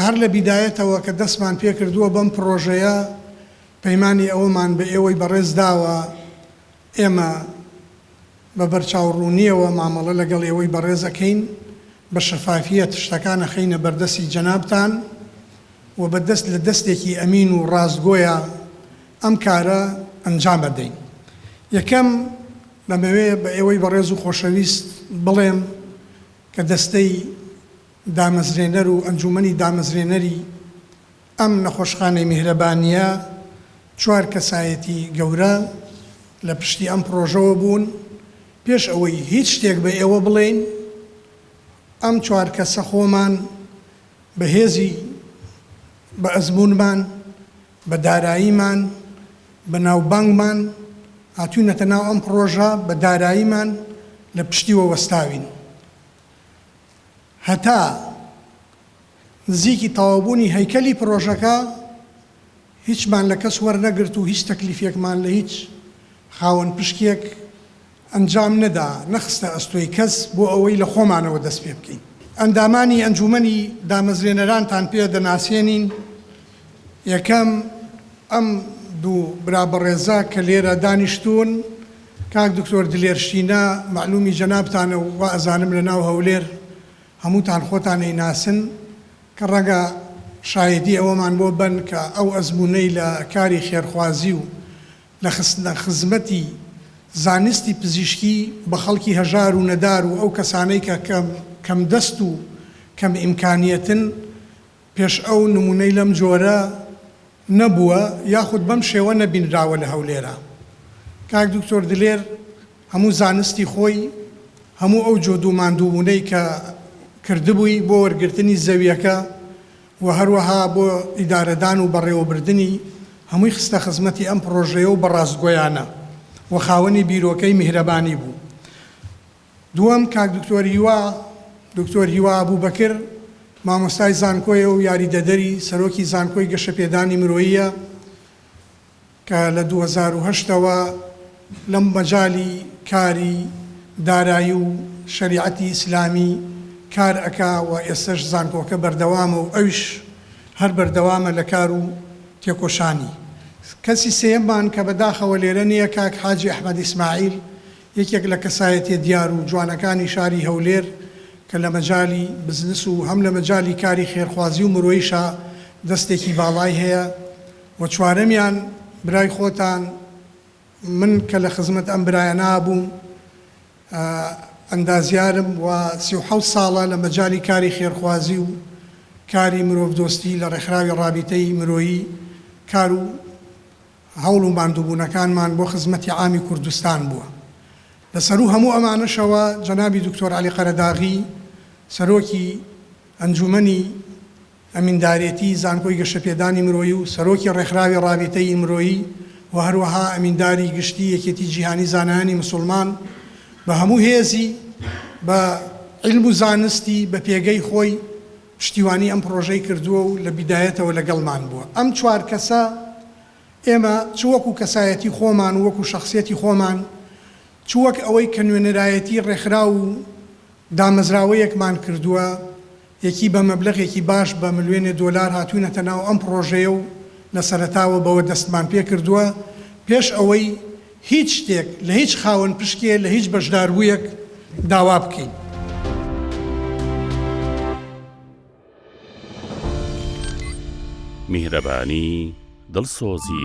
هەر لە بیدایەتەوە کە دەستمان پێکردووە بەم پڕۆژەیە، پەیمانی ئەوەمان بە ئێوەی بەڕێز داوە، ئێمە بە بەرچاوڕوونییەوە مامەڵە لەگەڵ ئێوەی بەڕێز ئەکەین، بە شەفافییەت شتەکان ئەخەینە بەردەستی جەنابتان و بە دەست لە دەستێکی ئەمین و ڕاستگۆیە ئەم کارە ئەنجام ئەدەین. یەکەم، دەمەوێ بە ئێوەی بەڕێز و خۆشەویست بڵێم کە دەستەی دامەزرێنەر و ئەنجوومەنی دامەزرێنەری ئەم نەخۆشخانەی میهرەبانییە، چوار کەسایەتی گەورە لە پشتی ئەم پڕۆژەوە بوون، پێش ئەوەی هیچ شتێک بە ئێوە بڵێین ئەم چوار کەسە خۆمان بە هێزی بە ئەزموونمان، بە داراییمان، بە ناوبانگمان هاتووینەتە ناو ئەم پڕۆژە، بە داراییمان لە پشتیوە وەستاوین. هەتا نزیکی تەواوبوونی هەیکەلی پڕۆژەکە هیچمان لە کەس وەرنەگرت و هیچ تەکلیفێکمان لە هیچ خاوەن پشکێک ئەنجام نەدا، نەخستە ئەستۆی کەس بۆ ئەوەی لە خۆمانەوە دەست پێ بکەین. ئەندامانی ئەنجوومەنی دامەزرێنەرانتان پێ دەناسێنین. یەکەم، ئەم دوو برا بەڕێزە کە لێرە دانیشتوون، کاک دکتۆر دلێر شینە، مەعلوومی جەنابتانە و وائەزانم لە ناو هەولێر هەمووتان خۆتان ئەیناسن، کە ڕەنگە شایەدی ئەوەمان بۆ بن کە ئەو ئەزموونەی لە کاری خێرخوازی و لە خستنە خزمەتی زانستی پزیشکی بە خەڵکی هەژار و نەدار و ئەو کەسانەی کە کەم دەست و کەم ئیمکانیەتن پێش ئەو نموونەی لەم جۆرە نەبووە یاخود بەم شێوە نەبینراوە لە هەولێرا. کاک دکتۆر دلێر هەموو زانستی خۆی، هەموو ئەو جهد و ماندووبوونەی کە کردبووی بۆ وەرگرتنی زەوییەکە و هەروەها بۆ ئیدارەدان و بەڕێوەبردنی، هەمووی خستە خزمەتی ئەم پڕۆژەیە و بە ڕاستگۆیانە و خاوەنی بیرۆکەی میهرەبانی بوو. دووەم کاک دکتۆر هیوا دکتۆر هیوا ئەبوبەکر مامۆستای زانکۆیە و یاریدەدەری سەرۆکی زانکۆی گەشەپێدانی مرۆییە کە لە دوو هەزار و هەشت ەوە لە مەجالی کاری دارایی و شەریعەتی ئیسلامی کار ئەکا و ئێستەش زانکۆکە بەردەوامە و ئەویش هەر بەردەوامە لە کار و تێکۆشانی. کەسی سێیەممان کە بەداخەوە لێرە نییە کاک حاجی ئەحمەد ئیسماعیل یەکێک لە کەسایەتیە دیار و جوانەکانی شاری هەولێر کە لە مەجالی بزنس و هەم لە مەجالی کاری خێرخوازی و مرۆیشا دەستێکی باڵای هەیە و چوارەمیان برای خۆتان من کە لە خزمەت ئەم برایەنا بووم ئەندازیارم و سی و حەوت ساڵە لە مەجالی کاری خێرخوازی و کاری مرۆڤ دۆستی لە ڕێکخراوی ڕابیتەی مرۆیی کار و هەوڵ و ماندووبوونەکانمان بۆ خزمەتی عامی کوردستان بووە. لە سەروو هەموو ئەمانەشەوە جەنابی دوکتۆر عەلی قەرەداغی سەرۆکی ئەنجوومەنی ئەمیندارێتی زانکۆی گەشەپێدانی مرۆیی و سەرۆکی ڕێکخراوی ڕابیتەیی مرۆیی و هەروەها ئەمینداری گشتی یەکێتی جیهانی زانایانی مسوڵمان بە هەموو هێزی بە عیلم و زانستی بە پێگەی خۆی پشتیوانی ئەم پڕۆژەی کردووە و لە بیدایەتەوە لەگەڵمان بووە. ئەم چوار کەسە ئێمە چ وەکو کەسایەتی خۆمان و وەکو شەخسیەتی خۆمان چ وەک ئەوەی کە نوێنەرایەتی ڕێکخراو و دامەزراوەیەکمان کردووە یەکی بە مەبلەغێکی باش بە ملوێنێ دۆلار هاتووینەتە ناو ئەم پڕۆژەیە و لە سەرەتاوە بەوە دەستمان پێکردووە پێش ئەوەی هیچ شتێک لە هیچ خاوەن پشکێ لە هیچ بەشداربوویەک داوا بکەین. میهرەبانی، دڵسۆزی